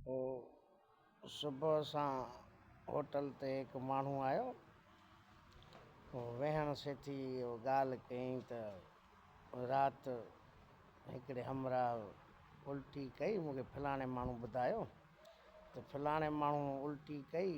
هو صبح سان هوٽل تي هڪ ماڻهو آيو. هو ويهڻ سيٿي اهو ڳالهه ڪيائين ته رات هڪڙي همراهه الٽي ڪئي، مون کي فلاڻي ماڻهو ٻڌايو ته فلاڻي ماڻهو الٽي ڪئي.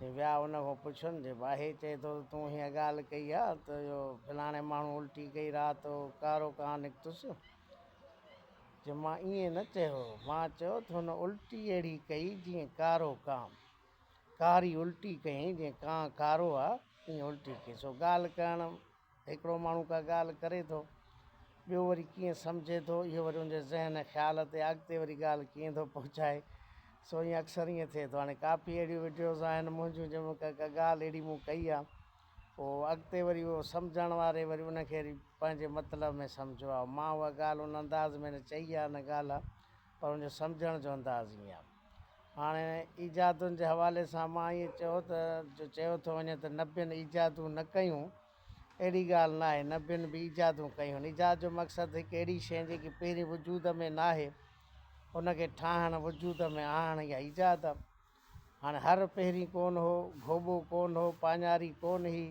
سي ويا ان کان پڇن جي باهي چئي ٿو ته تون هيء ڳالهه ڪئي آ ته اهو فلاڻي ماڻهو الٽي ڪئي رات جو ڪارو ڪان نڪتس؟ چي مان ائين نه چيو هو، مان چيو ته هن الٽي اهڙي ڪئي جيئن ڪارو ڪان. ڪاري الٽي ڪيائين جيئن ڪان ڪارو آ، ائين الٽي ڪئي. سو ڳالهه ڪرڻ هڪڙو ماڻهو ڪا ڳالهه ڪري ٿو، ٻيو وري ڪيئن سمجهي ٿو، اهو وري ان جي ذهن ۽ خيال تي اڳتي وري ڳالهه ڪيئن ٿو پهچائي، سو ائين اڪثر ائين ٿئي ٿو. هاڻي ڪافي اهڙيون وڊيوز آهن منهنجون جنهن ۾ ڪا ڪا ڳالهه اهڙي مون ڪئي آ، پوء اڳتي وري اهو سمجهڻ واري وري ان کي پنهنجي مطلب ۾ سمجهيو آ. مان اها ڳالهه ان انداز ۾ نه چئي آ، نه ڳالهه. پر ان جو سمجهڻ جو انداز ائين آهي. هاڻي ايجادن جي حوالي سان مان ائين چئو ته جو چيو ٿو وڃي ته نبين ايجادون نه ڪيون، اهڙي ڳالهه ناهي. نبين به ايجادون ڪيون آهن. ايجاد جو مقصد هڪ اهڙي شيء جيڪي پهرين وجود ۾ ناهي، ان کي ٺاهڻ، وجود ۾ آڻڻ، اها ايجاد آهي. هاڻ هر پهرين ڪون هو، گهوٻو ڪون هو، پاڃاري ڪون هئي،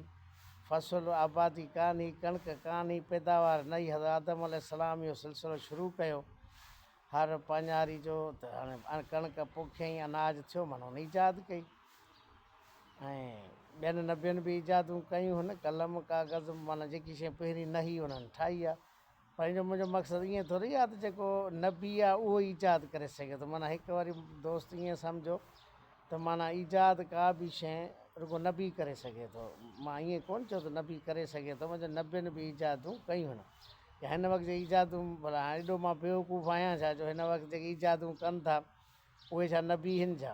فصل، آبادي، ڪان هئي، ڪڻڪ ڪان هئي، پيداوار نه هئي، حضرت آدم عليه السلام اهو سلسلو شروع ڪيو، هر پاڃاري جو ته هاڻي ڪڻڪ پوکيائين، اناج ٿيو، معنيٰ هن ايجاد ڪئي ۽ ٻين نبين به ايجادون ڪيون هن، قلم، ڪاغذ، معنيٰ جيڪي شيء پهرين نه هئي، انهن ٺاهي آ. پنهنجو منهنجو مقصد ائين ٿوري آهي ته جيڪو نبي آهي اهو ايجاد ڪري سگهي ٿو معنيٰ هڪ واري دوست ائين سمجهو ته معنيٰ ايجاد ڪا به شيء رڳو نبي ڪري سگهي ٿو مان ائين ڪونه چيو ته نبي ڪري سگهي ٿو مان چيو نبين به ايجادون ڪيون يا هن وقت جي ايجادون ڀلا هاڻي ايڏو مان بيوقوف آهيان ڇا جو هن وقت جيڪي ايجادون ڪن ٿا اهي ڇا نبي هن جا؟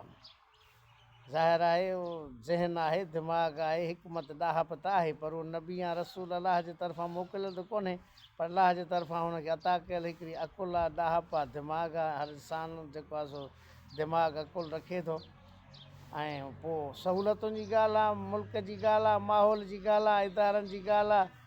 ظاهر آهي اهو ذهن آهي، دماغ آهي، حڪمت، ڏاهپ ته آهي پر اهو نبي يا رسول الله جي طرفان موڪليل ته ڪونهي پر الله جي طرفان هن کي عطا ڪيل هڪڙي عقل آهي، ڏاهپ آهي، دماغ آهي، هر انسان جيڪو آهي سو دماغ، عقل، رکي ٿو ۽ پوء سهولتن جي ڳالهه آهي، ملڪ جي ڳالهه آهي، ماحول جي ڳالهه آهي، ادارن جي ڳالهه آهي.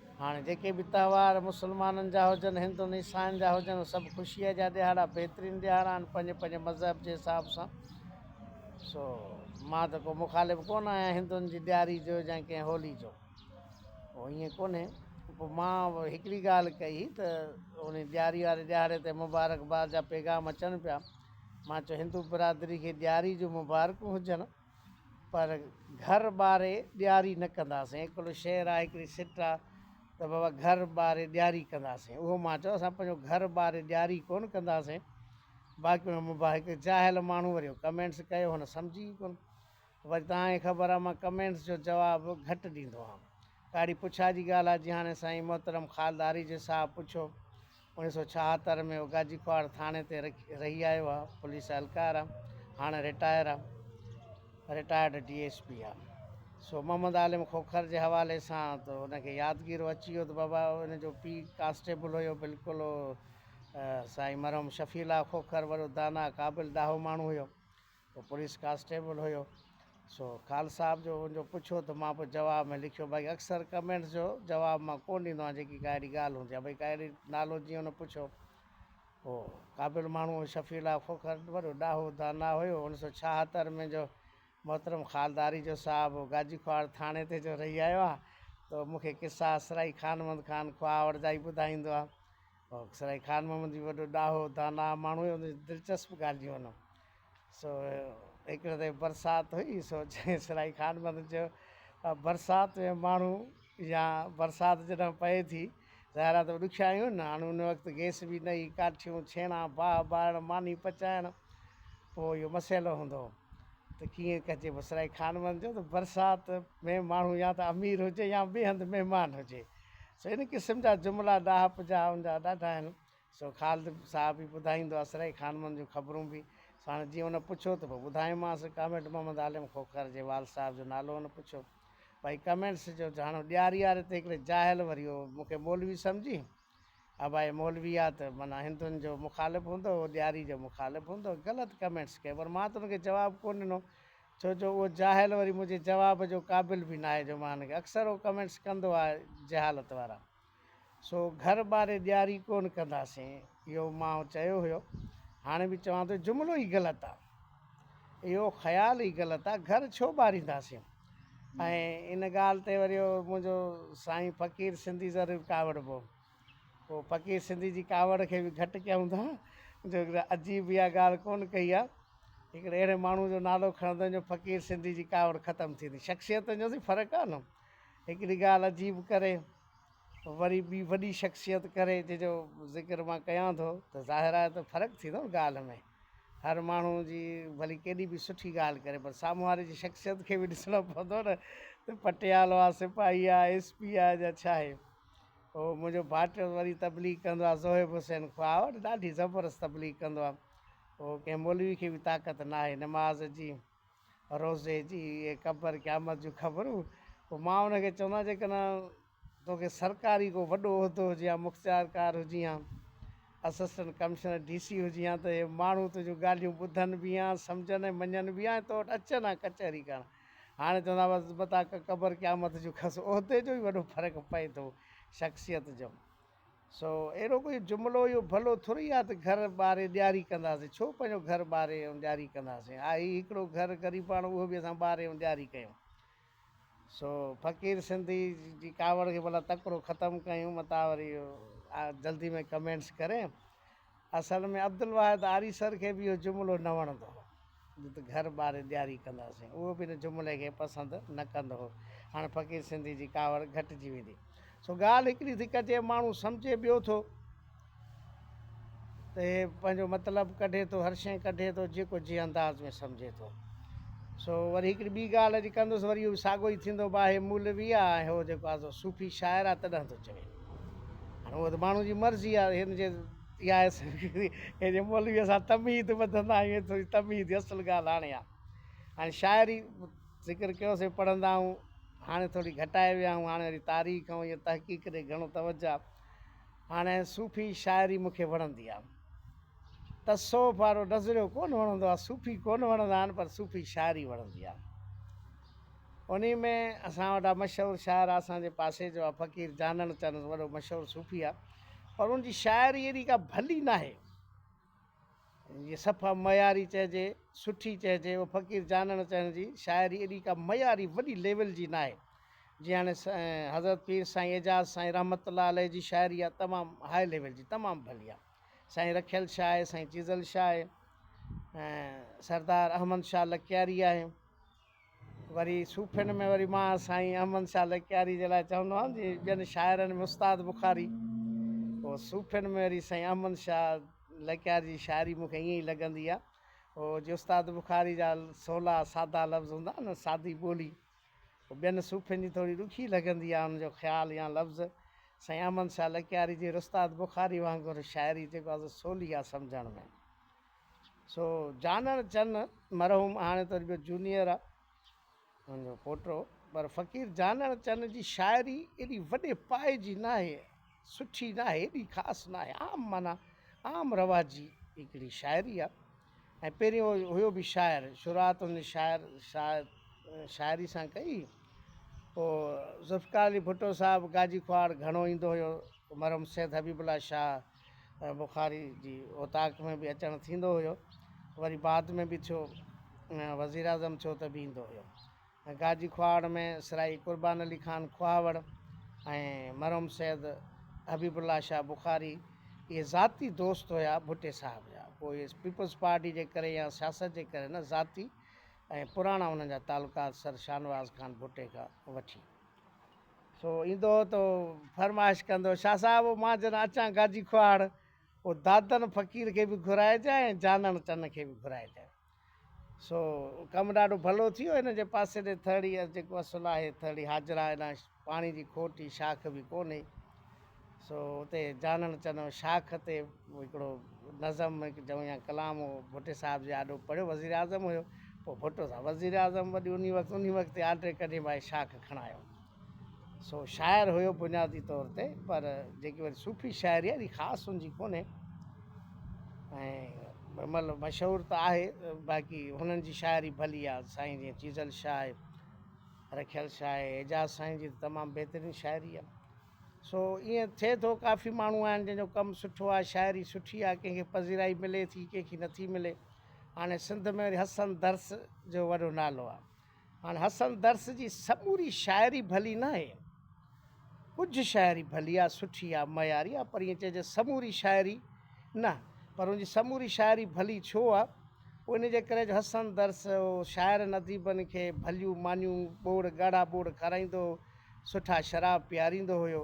هاڻي جيڪي به تهوار مسلمانن جا هجن، هندن، عيسائين جا هجن، اهي سڀ خوشيء جا ڏيهاڙا بهترين ڏيهاڙا آهن پنهنجي پنهنجي مذهب جي حساب سان. سو مان ته ڪو مخالف ڪونه آهيان هندن جي ڏياري جو يا ڪنهن هولي جو. پوء ائين ڪونهي. پوء مان هڪڙي ڳالهه ڪئي ته ان ڏياري واري ڏيهاڙي تي مبارڪباد جا پيغام اچن پيا. مان چيو هندو برادري کي ڏياري جون مبارڪون هجن. پر گهر ٻاري ڏياري نه ڪنداسين هڪڙو شعر آهي هڪڙي سٽ آهي ته بابا گهر ٻاري ڏياري ڪنداسين اهو مان چيو اسان پنهنجو گهر ٻاري ڏياري ڪونه ڪنداسين باقي هن مباح هڪ جاهل ماڻهو وري اهو ڪمينٽس ڪيو هن سمجهي ئي ڪونه وري تان کي خبر آهي مان ڪمينٽس جو جواب گهٽ ڏيندو آهيان ڪاڙي پڇا جي ڳالهه آهي جي هاڻي سائين محترم خالد آريجي صاحب پڇيو انيس سؤ ڇاهتر ۾ هو گاجيڪواڙ ٿاڻي تي رهي آيو آهي، پوليس اهلڪار آهي، هاڻ رٽائر آهي، رٽائرڊ ڊي ايس پي آهي. سو محمد عالم کوکر جي حوالي سان ته ان کي يادگيرو اچي ويو ته بابا ان جو پيء ڪانسٽيبل هيو بلڪل هو سائين مرحوم شفيع الله کوکر وڏو دانا قابل ڏاهو ماڻهو هيو. ڪو پوليس ڪانسٽيبل هيو سو خان صاحب جو ان جو پڇيو ته مان پوء جواب ۾ لکيو باقي اڪثر ڪمينٽس جو جواب مان ڪونه ڏيندو آهيان جيڪي ڪا اهڙي ڳالهه هوندي آهي ڀئي ڪا اهڙي نالو جيئن ان پڇيو هو قابل ماڻهو شفيع الله کوکر وڏو ڏاهو دانا هيو انيس سو ڇاهتر ۾ جو محترم خالداري جو صاحب گاجي کواڙ ٿاڻي تي جو رهي آيو آهي تو مون کي قصا اسرائي خان محمد خان کواڙ جا ئي ٻڌائيندو آهي اسرائي خان محمد جي وڏو ڏاهو دانا ماڻهو هيو دلچسپ ڳالهيون هن سو هڪڙي ڏينهن برسات هئي سو اسرائي خان متي چيو ته برسات ۾ ماڻهو يا برسات جڏهن پئي ٿي ظاهر آهي ته ڏکيائيون نه هاڻي ان وقت گئس به نه هئي ڪاٺيون ڇيڻا باهه ٻارڻ ماني پچائڻ پوء اهو مسئلو هوندو ته ڪيئن ڪجي پوء اسرائي خان متي چيو ته برسات ۾ ماڻهو يا ته امير هجي يا ٻئي هنڌ مهمان هجي سو ان قسم جا جملا ڏاهپ جا ان جا ڏاڍا آهن سو خالد صاحب ئي ٻڌائيندو اسرائي خانمن جون خبرون به. سو هاڻي جيئن هن پڇيو ته پوء ٻڌايومانس ڪامريڊ محمد عالم کوکر جي والد صاحب جو نالو هن پڇيو. ڀائي ڪمينٽس جو جهاڻو ڏياري آري ته هڪڙي جاهل وري اهو مون کي مولوي سمجهي ها ڀائي مولوي آ ته معنيٰ هندن جو مخالف هوندو اهو ڏياري جو مخالف هوندو غلط ڪمينٽس ڪيو پر مان ته ان کي جواب ڪو ڏنو ڇو جو اهو جاهل وري منهنجي جواب جو قابل به ناهي جو مان هن کي اڪثر اهو ڪمينٽس ڪندو آ جهالت وارا. سو گهر ٻاري ڏياري ڪون ڪنداسين اهو مان چيو هيو هاڻي به چوان ٿو جملو ئي غلط آ اهو خيال ئي غلط آ گهر ڇو ٻارينداسين ۽ ان ڳالهه تي وري اهو منهنجو سائين فقير سنڌي ضرور ڪاوڙبو هو فقير سنڌي جي ڪاوڙ کي به گهٽ ڪيون ٿا جو عجيب اها ڳالهه ڪون ڪئي آ هڪڙي اهڙي ماڻهو جو نالو کڻندو جو فقير سنڌي جي ڪاوڙ ختم ٿيندي شخصيتن جو ته فرق آ نه هڪڙي ڳالهه عجيب ڪري وري ٻي وڏي شخصيت ڪري جنهن جو ذڪر مان ڪيان ٿو ته ظاهر آهي ته فرق ٿيندو نه ڳالهه ۾ هر ماڻهو جي ڀلي ڪيڏي به سٺي ڳالهه ڪري پر سامهون واري جي شخصيت کي به ڏسڻو پوندو نه ته پٽيالو آهي سپاهي آهي ايس پي آهي يا ڇا آهي هو منهنجو ڀائٽيو وري تبليغ ڪندو آهي زوهيب حسين خواهه وٽ ڏاڍي زبردست تبليغ ڪندو آهي هو ڪنهن مولوي کي به طاقت ناهي نماز جي روزي جي ۽ قبر قيامت جون خبرون پوء مان ان کي چوندو آهيان جيڪڏهن توکي سرڪاري ڪو وڏو عهدو هجي هان مختيارڪار هجي هان اسسٽنٽ ڪمشنر ڊي سي هجي هان ته اهي ماڻهو تنهنجون ڳالهيون ٻڌن به هان سمجهن ۽ مڃن به هان ۽ تو وٽ اچن هان ڪچهري ڪرڻ هاڻي چوندا بس بتا قبر قيامت جون خس عهدي جو ئي وڏو فرق پئي ٿو شخصيت جو سو اهڙو ڪو جملو اهو ڀلو ٿورئي آهي ته گهر ٻاري ڏياري ڪنداسين، ڇو پنهنجو گهر ٻاري ۽ ڏياري ڪنداسين، آهي ئي هڪڙو گهر غريباڻو اهو به اسان ٻاري ۽ ڏياري ڪيون. سو فقير سنڌي جي ڪاوڙ کي ڀلا تڪڙو ختم ڪيون متان وري جلدي ۾ ڪمينٽس ڪرين اصل ۾ عبدالواحد آريسر کي به اهو جملو نه وڻندو هو ته گهر ٻاري ڏياري ڪنداسين. اهو به ان جملي کي پسند نه ڪندو هو. هاڻ فقير سنڌي جي ڪاوڙ گهٽجي ويندي. سو ڳالهه هڪڙي ٿي ڪجي. ماڻهو سمجهي ٻيو ٿو ته هي پنهنجو مطلب ڪڍي ٿو، هر شيء ڪڍي ٿو، جيڪو جنهن انداز ۾ سمجهي ٿو. سو وري هڪڙي ٻي ڳالهه اڄ ڪندس، وري اهو به ساڳيو ئي ٿيندو، باهي مولوي آ ۽ هو جيڪو آزو صوفي شاعر آ، تڏهن ٿو چوي. هاڻ اهو ته ماڻهو جي مرضي آهي هن جي يا هن جي مولويء سان تمهيد ٻڌندا آهيون هي ٿوري تمهيد جي اصل ڳالهه هاڻي آ هاڻي شاعري ذڪر ڪيو سي پڙهندا آهيون هاڻي ٿوري گهٽائي ويا آهيون هاڻي وري تاريخ ۽ ائين تحقيق ڏي گهڻو توجه هاڻي صوفي شاعري مونکي وڻندي آ تصوف وارو نظريو ڪون وڻندو آ صوفي ڪون وڻندا آهن پر صوفي شاعري وڻندي آ انهي ۾ اسان وٽ آ مشهور شاعر آ اسان جي پاسي جو آ فقير جانڻ چنس وڏو مشهور صوفي آ پر ان جي شاعري ايڏي ڪا ڀلي ناهي جي صفا معياري چئجي سٺي چئجي او فقير جانڻ چنس جي شاعري ايڏي ڪا معياري وڏي ليول جي ناهي جي هاڻي حضرت پير سائين اعجاز سائين رحمت الله عليه جي شاعري آ تمام هاء ليول جي تمام ڀلي آ سائين رکيل شاهه آهي سائين چيزل شاهه آهي سردار احمد شاهه لڪياري آهي وري صوفين ۾ وري مان سائين احمد شاھ لڪياري جي لاء چوندو آھيان جي ٻين شاعرن ۾ استاد بخاري او صوفين ۾ وري سائين احمد شاھ لڪياري جي شاعري مون کي ائين ئي لڳندي آ او جي استاد بخاري جا سولا سادا لفظ ھوندا آھن سادي ٻولي ٻين صوفين جي ٿوري ڏکي لڳندي آ ان جو خيال يا لفظ سائين احمد شاھ لڪياري جي رستاد بخاري وانگر شاعري جيڪو آ سو سولي آ سمجھڻ ۾. سو جانڻ چن مرحوم هاڻي ته رڳو جونيئر آ هن جو پوٽو پر فقير جانڻ چن جي شاعري ايڏي وڏي پائي جي ناهي سٺي ناهي ايڏي خاص ناهي عام معنيٰ عام رواجي هڪڙي شاعري آ ۽ پهريون هيو به شاعر شروعات هن شاعر شاعري سان ڪئي پوء ذوالفقار علي ڀٽو صاحب گاجي کهاڙ گهڻو ايندو هيو مرحوم سيد حبيب الله شاهه بخاري جي اوطاق ۾ به اچڻ ٿيندو هيو وري بعد ۾ به ٿيو وزيراعظم ٿيو ته به ايندو هيو گاجي کواهڙ ۾ سرائي قربان علي خان کواهوڙ ۽ مرحوم سيد حبيب الله شاهه بخاري اهي ذاتي دوست هيا ڀٽي صاحب جا پوء پيپلز پارٽي جي ڪري يا سياست جي ڪري نه ذاتي ۽ پراڻا انهن جا تعلقات سر شاهنواز خان ڀٽي کان وٺي سو ايندو تو فرمائش ڪندو. شاهه صاحب او مان جن اچان گاجي کوهاڙ، او دادن فقير کي به گهرائجان ۽ جانڻ چن کي به گهرائجان. سو ڪم ڏاڍو ڀلو ٿيو. هن جي پاسي ڏي ٿرڙي جيڪو اصل آهي ٿرڙي حاجرا هيڏانهن پاڻي جي کوٽ ئي شاخ به ڪونهي. سو اتي جانڻ چنو شاخ تي هڪڙو نظم چئون يا ڪلام هو ڀٽي صاحب جي آڏو پڙهيو وزير اعظم هيو پوء ڀٽو صاحب وزير اعظم وڏي انهي وقت انهي وقت تي آرڊر ڪڍي ڀائي شاخ کڻايو سو شاعر هيو بنيادي طور تي پر جيڪي وري صوفي شاعري آهي اهڙي خاص ان جي ڪونهي ۽ مطلب مشهور ته آهي باقي هنن جي شاعري ڀلي آهي سائين جيئن چيزل شاهه رکيل شاهه اعجاز سائين جي تمام بهترين شاعري آهي سو ائين ٿئي ٿو ڪافي ماڻهو آهن جن جو ڪم سٺو آهي شاعري سٺي آهي ڪنهن کي پذيرائي ملي ٿي ڪنهن کي نٿي ملي هاڻي سنڌ ۾ وري حسن درس جو وڏو نالو آهي هاڻي حسن درس جي سموري شاعري ڀلي نه آهي ڪجهه شاعري ڀلي آهي سٺي آهي معياري آهي پر ائين چئجي سموري شاعري نه پر ان جي سموري شاعري ڀلي ڇو آهي ان جي ڪري جو حسن درس شاعرن اديبن کي ڀليون مانيون ٻوڙ ڳاڙها ٻوڙ کارائيندو هو سٺا شراب پياريندو هيو.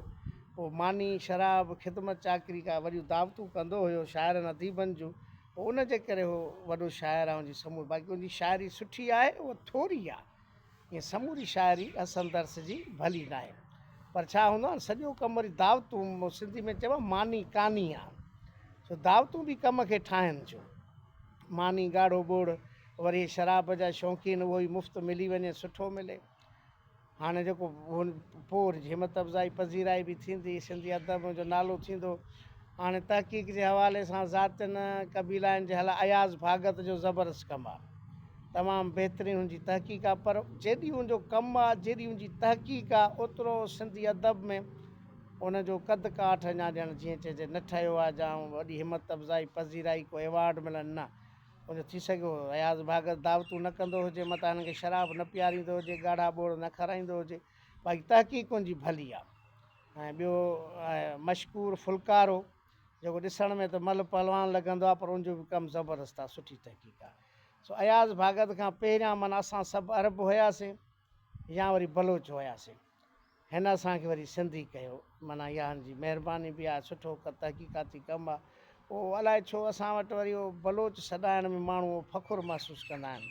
پوء ماني، شراب، خدمت چاڪري ڪا وڏيون دعوتون ڪندو هيو شاعرن اديبن جون. پوء ان جي ڪري هو وڏو شاعر آهي ان جي سموري باقي ان جي شاعري سٺي آهي اها ٿوري آهي ائين سموري شاعري حسن درس جي ڀلي ناهي پر ڇا هوندو آهي سڄو ڪم وري دعوتون سنڌي ۾ چئبو آهي ماني ڪاني آهي سو دعوتون به ڪم کي ٺاهن جو ماني ڳاڙهو ڳوڙ وري شراب جا شوقين اهو ئي مفت ملي وڃي سٺو ملي هاڻي جيڪو پوء وري همت افزائي پذيرائي به ٿيندي سنڌي ادب جو نالو ٿيندو هاڻي تحقيق جي حوالي سان ذاتين قبيلائن جي هل اياز ڀاڳت جو زبردست ڪم آ تمام بهترين هن جي تحقيق آ پر جيڏي هن جو ڪم آ جيڏي هن جي تحقيق آ اوترو سنڌي ادب ۾ ان جو قد ڪاٺ اڃا ڄڻ جيئن چئجي نه ٺهيو آ جا وڏي همت افزائي پذيرائي ڪو ايوارڊ ملن نه هن ٿي سگهيو اياز ڀاڳر دعوتون نه ڪندو هجي، متان هنن کي شراب نه پياريندو هجي، ڳاڙها ٻوڙ نه کارائيندو هجي، باقي تحقيق ان جي ڀلي آ. ۽ ٻيو مشڪور ڦلڪارو جيڪو ڏسڻ ۾ ته ملهه پهلوان لڳندو آ پر ان جو به ڪم زبردست آ، سٺي تحقيق آ. سو اياز ڀاڳت کان پهريان معنيٰ اسان سڀ عرب هياسين. يا وري بلوچ هياسين هن اسان کي وري سنڌي ڪيو معنيٰ اها هن جي مهرباني به آهي سٺو ڪو تحقيقاتي ڪم آهي پوء الائي ڇو اسان وٽ وري اهو بلوچ سڏائڻ ۾ ماڻهو اهو فخر محسوس ڪندا آهن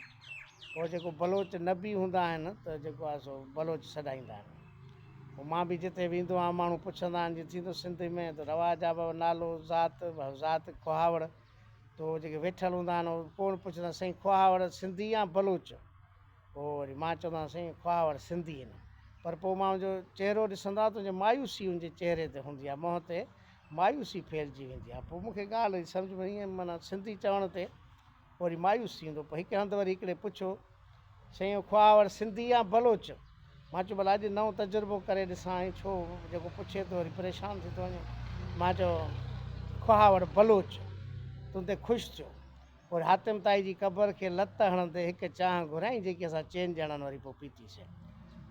پوء جيڪو بلوچ نبي هوندا آهن ته جيڪو آهي سو بلوچ سڏائيندا آهن پوء مان به جتي ويندو آهيان ماڻهو پڇندا آهن جي ٿيندو سنڌ ۾ ته رواج آهي بابا نالو ذات ذات کوهاوڙ تو جيڪي ويٺل هوندا آهن اهو ڪوڻ پڇندا سائين کوهاوڙ سنڌي يا بلوچ پوء وري مان چوندو آهيان سائين خواهور سنڌي آهن پر پوء مان هنجو چهرو ڏسندو آهيان ته هنجي مايوسي هنجي چهري تي هوندي آهي منهن تي مايوسي ڦهلجي ويندي آهي پوء مونکي ڳالهه جي سمجهه ۾ ائين معنيٰ سنڌي چوڻ تي پوء وري مايوس ٿي ويندو پوء هڪ هنڌ وري هڪڙي پڇيو سائين اهو خواهور سنڌي يا بلوچ مان چيو ڀلا اڄ نئون تجربو ڪري ڏسان ۽ ڇو جيڪو پڇي ٿو وري پريشان ٿي ٿو وڃي مان چيو خواهور بلوچ تون تي خوش ٿيو پوء حاتم طائي جي قبر کي لت هڻندي هڪ چانهه گهريائين جيڪي اسان چئن ڄڻن وري پوء پيتي سين.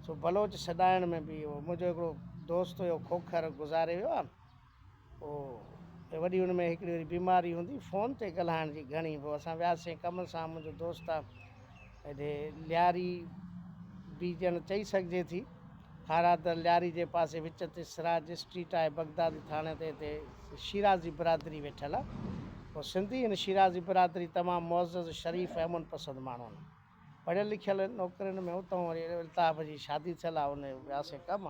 سو بلوچ سڏائڻ ۾ به اهو منهنجو هڪڙو دوست هيو کوکر گذاري ويو آهي او ته وڏي ان ۾ هڪڙي وري بيماري هوندي فون تي ڳلهائڻ جي گهڻي هو اسان وياسين ڪم سان منهنجو دوست آ هيڏي لياري به ڄڻ چئي سگهجي ٿي. هارا در لياري جي پاسي وچ تي سراج اسٽريٽ آهي. بغدادي ٿاڻي تي هتي شيرازي برادري ويٺل آهي. هو سنڌي هن شيرازي برادري تمام معزز، شريف ۽ امن پسند ماڻهو آهن. پڙهيل لکيل آهن. نوڪرين ۾ اتهون وري الطاف جي شادي ٿيل آهي ان وياسي ڪم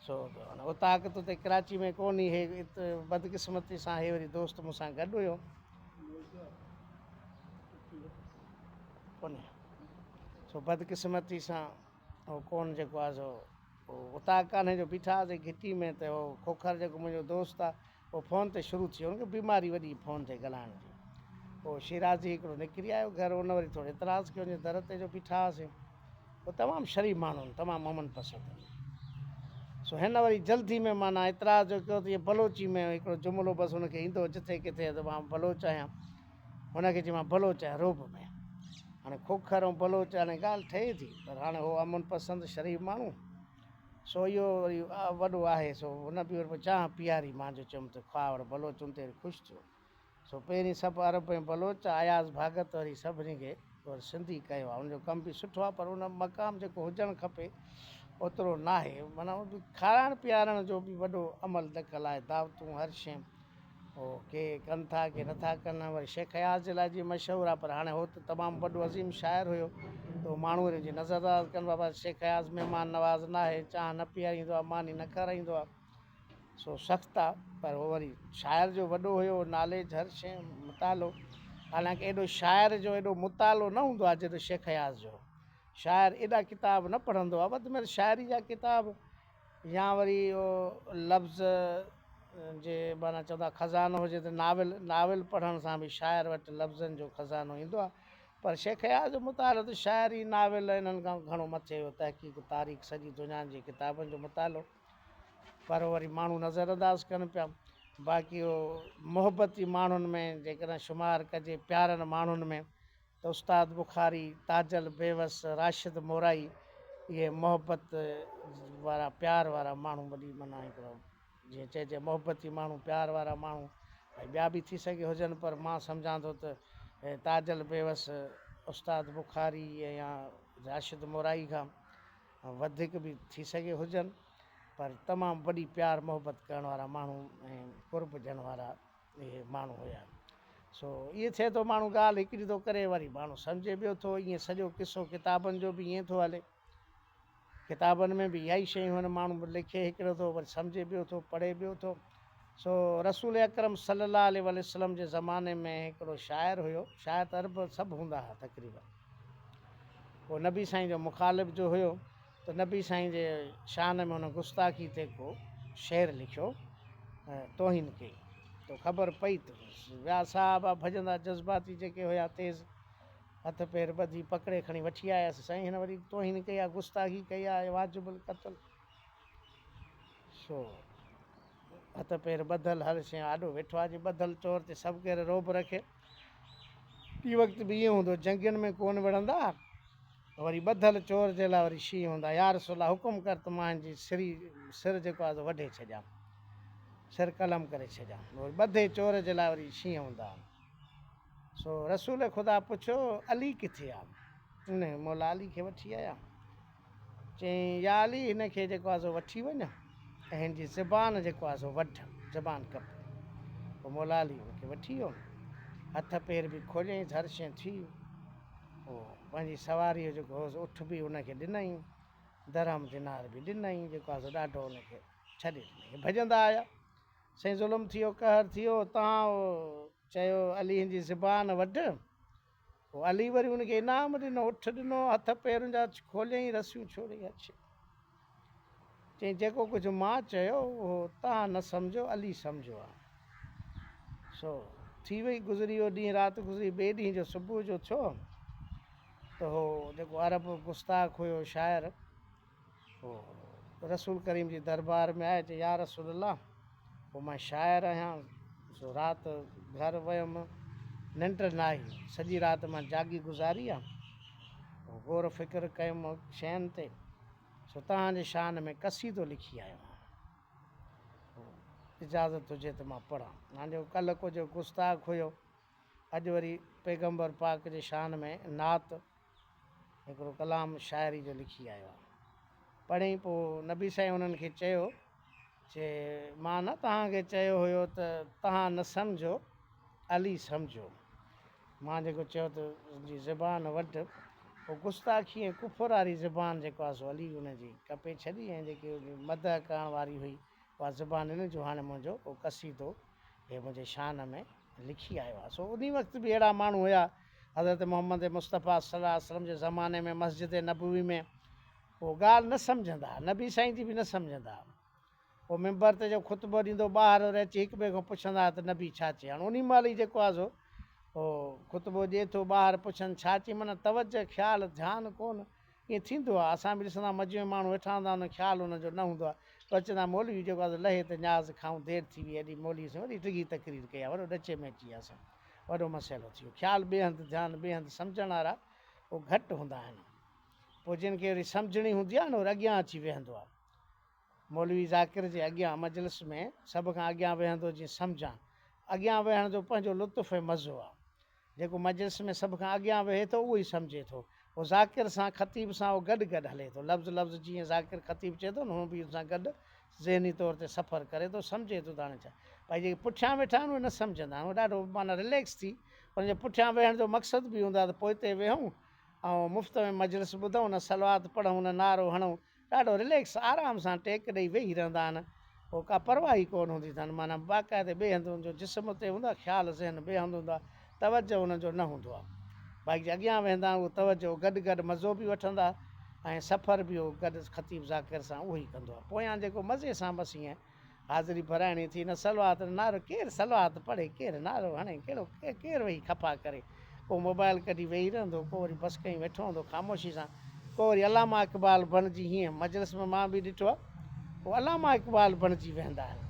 سو هن اوطاق ته اتي ڪراچي ۾ ڪو ني هي ات بدقسمتي سان هي وري دوست مون سان گڏ هيو. ڪونهي سو بدقسمتي سان هو ڪون جيڪو آهي سو اتاء ڪانهي جو بيٺا هئاسي گهٽي ۾ ته هو کوکر جيڪو منهنجو دوست آهي هو فون تي شروع ٿيو هن کي بيماري وڏي فون تي ڳالهائڻ جي پوء شيرازي هڪڙو نڪري آيو گهر ان وري ٿورو اعتراض ڪيو جي در تي جو بيٺا هئاسي هو تمام شريف ماڻهو تمام امن پسند سو هن وري جلدي ۾ مانا اعتراض جو ڪيو ته بلوچي ۾ هڪڙو جملو بس هن کي ايندو جٿي ڪٿي ته مان بلوچ آهيان هن کي چيومانس بلوچ ۽ روب ۾. هاڻي کوکر ۽ بلوچ هاڻي ڳالهه ٺهي ٿي پر هاڻي هو امن پسند شريف ماڻهو سو اهو وري وڏو آهي سو هن به وري چانهه پياري مان جو چيم ته کاء وري بلوچ ان تي وري خوش ٿيو سو پهرين سڀ عرب ۽ بلوچ اياز ڀاڳت وري سڀني کي وري سنڌي ڪيو آهي ان جو ڪم به سٺو آهي پر ان مقام جيڪو هجڻ کپي اوترو ناهي معنيٰ کارائڻ پيارڻ جو به وڏو عمل دخل آهي دعوتون هر شيء هو ڪي ڪن ٿا ڪي نٿا ڪن وري شيخ اياز جي لاء جي مشهور آ پر هاڻي هو ته تمام وڏو عظيم شاعر هيو تو ماڻهو هن جي نظر انداز ڪن بابا شيخ اياز مهمان نواز ناهي چانهه نه پياريندو آ ماني نه کارائيندو آ سو سخت آ پر هو وري شاعر جو وڏو هيو ناليج هر شي مطالعو حالانڪه ايڏو شاعر جو ايڏو مطالعو نه هوندو آ جيڏو شيخ اياز جو شاعر ايڏا ڪتاب نه پڙهندو آ وڌ ۾ وڌ شاعري جا ڪتاب يا وري اهو لفظ جي معنيٰ چوندا خزانو هجي ته ناول، ناول پڙهڻ سان به شاعر وٽ لفظن جو خزانو ايندو آهي. پر شيخ اياز جو مطالعو ته شاعري، ناول ۽ انهن کان به گهڻو مٿي هيو، تحقيق، تاريخ، سڄي دنيا جي ڪتابن جو مطالعو. پر وري ماڻهو نظر انداز ڪن پيا. باقي اهو محبتي ماڻهن ۾ جيڪڏهن شمار ڪجي، پيارن ماڻهن ۾. ته استاد بخاري، تاجل بيوس، راشد مورائي اهي محبت وارا پيار وارا ماڻهو وڏي معنيٰ هڪڙو جيئن چئجي محبتي ماڻهو پيار وارا ماڻهو ۽ ٻيا به ٿي سگهي هجن پر مان سمجهان ٿو ته تاجل بيوس استاد بخاري يا راشد مورائي کان وڌيڪ به ٿي سگهي هجن پر تمام وڏي پيار محبت ڪرڻ وارا ماڻهو ۽ قرب ڏيڻ وارا اهي ماڻهو هيا. سو ائين ٿئي ٿو ماڻهو ڳالهه هڪڙي ٿو ڪري وري ماڻهو سمجهي ٻيو ٿو ائين سڄو قصو ڪتابن جو به ائين ٿو هلي ڪتابن ۾ به اها ئي شيون آهن ماڻهو لکي هڪڙو ٿو وري سمجهي ٻيو ٿو پڙهي ٻيو ٿو سو رسول اڪرم صلي الله عليه وآله وسلم جي زماني ۾ هڪڙو شاعر هيو شاعر ته عرب سڀ هوندا ها تقريبن هو نبي سائين جو مخالف جو هيو ته نبي سائين جي شان ۾ هن گستاخي تي ڪو شعر لکيو ۽ توهين ڪئي تو خبر پئي ته ٻيا صاحب آ ڀڄندا جذباتي جيڪي هيا تيز هٿ پير ٻڌي پڪڙي کڻي وٺي آيس سائين هن وري توهين ڪئي آ گستاخي ڪئي آ اهي واجب القتل سو هٿ پير ٻڌل هر شيء آڏو ويٺو آ جي ٻڌل چور تي سڀ ڪير رعب رکي. ٻي وقت به ائين هوندو جنگين ۾ ڪون وڙهندا وري ٻڌل چور جي لاء وري شينهن هوندا يا رسول الله حڪم ڪر ته مان هن جي سري سر جيڪو آهي سو وڍي ڇڏيان سر قلم ڪري ڇڏيان وري ٻڌي چور جي لاء وري شينهن هوندا سو رسول خدا پڇيو علي ڪٿي آهي انهي مولا علي کي وٺي آيا چيائين، يا علي! هن کي جيڪو آهي سو وٺي وڃ ۽ هن جي زبان جيڪو آهي سو وڍ، زبان ڪپ. پوء مولا علي هن کي وٺي ويو. هٿ پير به کوليائينس، هر شيء ٿي. پوء پنهنجي سواريء جو جيڪو هو سو اٺ به هن کي ڏنائين، درهم دينار به ڏنائين، جيڪو آهي سو ڏاڍو هن کي ڇڏي ڏنائين. هي ڀڄندا آيا. سائين ظلم ٿيو، قهر ٿيو، تان چيو علي هن جي زبان وڍ. پوء علي وري هن کي انعام ڏنو، اٺ ڏنو، هٿ پيرن جا کوليائين، رسيون ڇوڙي اڇي چيائين، جيڪو ڪجهه مان چيو اهو توهان نه سمجهو، علي سمجهيو آهي. سو ٿي وئي گذري اهو ڏينهن، رات گذري، ٻئي ڏينهن جو صبح جو ٿيو ته اهو جيڪو عرب گستاخ هيو شاعر، هو رسول ڪريم جي دربار ۾ آيو چيو يارسول الله هو مان شاعر آهيان سو رات گهر ويم ننڊ ناهي سڄي رات مان جاڳي گذاري آ هو غور فڪر ڪيم شين تي سو توهان جي شان ۾ قصيدو لکي آيو آهيان هو اجازت هجي ته مان پڙهان مان جو ڪلهه ڪجهه گستاخ هيو اڄ وري پيغمبر پاڪ جي شان ۾ نعت هڪڙو ڪلام شاعري جو لکي آيو آهي پڙهين پوء نبي سائين انهن کي چيو چي مان نه توهان کي چيو هيو ته توهان نه سمجهو علي سمجهو مان جيڪو چيو ته جي زبان وٽ پوء گستاخي ۽ ڪفر واري زبان جيڪو آهي سو علي ان جي ڪپي ڇڏي ۽ جيڪي مدح ڪرڻ واري هئي اها زبان هن جو هاڻي منهنجو ڪو قصيدو هي منهنجي شان ۾ لکي آيو آهي. سو انهي وقت به اهڙا ماڻهو هيا. حضرت محمد مصطفيٰ صلّي الله عليه وسلّم جي زماني ۾ مسجد نبوي ۾ هو ڳالهه نه سمجهندا، نبي سائين جي به نه سمجهندا. هو منبر تي جو خطبو ڏيندو ٻاهر وري اچي هڪ ٻئي کان پڇندا ته نبي ڇا چئي؟ هاڻ انهي مهل ئي جيڪو آهي سو هو خطبو ڏئي ٿو ٻاهر پڇن ڇا چئي؟ معنيٰ توجهه، خيال، ڌيان ڪونه. ائين ٿيندو آهي اسان به ڏسندا آهيون مجمع ۾ ماڻهو ويٺا هوندا آهن خيال انهن جو نه هوندو آهي بس چوندا آهن مولوي جيڪو آهي سو لهي ته نياز کائون دير ٿي وئي اڏي مولوي سائين وڏي ڊگهي تقرير ڪئي آهي وڏو ڏچي ۾ اچي وياسون وڏو مسئلو ٿي ويو خيال ٻئي هنڌ ڌيان ٻئي هنڌ سمجهڻ وارا اهو گهٽ هوندا آهن پوء جن کي وري سمجهڻي هوندي آهي نه وري اڳيان اچي ويهندو آهي مولوي ذاڪر جي اڳيان مجلس ۾ سڀ کان اڳيان ويهندو جيئن سمجهان اڳيان ويهڻ جو پنهنجو لطف ۽ مزو آهي جيڪو مجلس ۾ سڀ کان اڳيان ويهي ٿو، اهو ئي سمجهي ٿو. پوء ذاڪر سان، خطيب سان، اهو گڏ گڏ هلي ٿو. لفظ لفظ جيئن ذاڪر خطيب چئي ٿو نه، هونء به ان سان گڏ ذهني طور تي سفر ڪري ٿو، سمجهي ٿو ته هاڻي ڇا. ڀائي جيڪي پٺيان ويٺا آهن، اهي نه سمجهندا آهن. اهي ڏاڍو معنيٰ رليڪس ٿي، انهن جي پٺيان ويهڻ جو مقصد به اهو هوندو آهي ته پوئتي ويهون ۽ مفت ۾ مجلس ٻڌون، نه صلوات پڙهون، نه نعرو هڻون، ڏاڍو رليڪس آرام سان ٽيڪ ڏئي ويهي رهندا آهن پوء ڪا پرواهه ئي ڪونه هوندي اٿن معنيٰ باقاعدي ٻئي هنڌ هن جو جسم اتي هوندو آهي خيال ذهن ٻئي هنڌ هوندو آهي توجه هنن جو نه هوندو آهي بائيڪ جي اڳيان ويهندا آهن اهو توجه گڏ گڏ مزو به وٺندا ۽ سفر به اهو گڏ خطيب ذاڪر سان اهو ئي ڪندو آهي پويان جيڪو مزي سان بس ايئن حاضري پرائڻي ٿي نه صلوات نه نعرو ڪير صلوات پڙهي ڪير نعرو هڻي ڪهڙو ڪير ويهي کپا ڪري ڪو موبائل ڪڍي ويهي رهندو ڪو وري بس ڪئين ويٺو هوندو خاموشي سان ڪو وري علامه اقبال بڻجي هينئن مجلس ۾ مان به ڏٺو آهي هو علامه اقبال بڻجي ويهندا آهن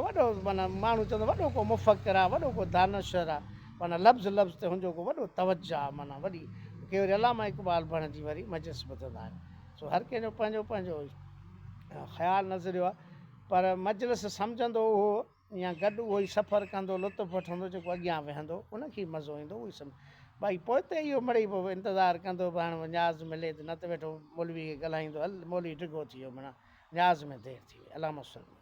وڏو معنيٰ ماڻهو چوندو وڏو ڪو مفڪر آهي وڏو ڪو دانشور آهي معنيٰ لفظ لفظ تي هن جو ڪو وڏو توجه آهي معنيٰ وڏي ڪي وري علامه اقبال بڻجي وري مجلس ٻڌندا آهن سو هر ڪنهن جو پنهنجو پنهنجو خيال نظريو آهي پر مجلس سمجهندو اهو يا گڏ اهو ئي سفر ڪندو لطف وٺندو جيڪو اڳيان ويهندو ان کي مزو ايندو اهو ئي سمجهندو ڀائي پوئتي اهو مڙئي پوء انتظار ڪندو به هاڻي نياز ملي ته نه ته ويٺو مولوي کي ڳالهائيندو هل مولوي ڊگهو ٿي ويو منا نياز ۾ دير ٿي وئي علامه سلمان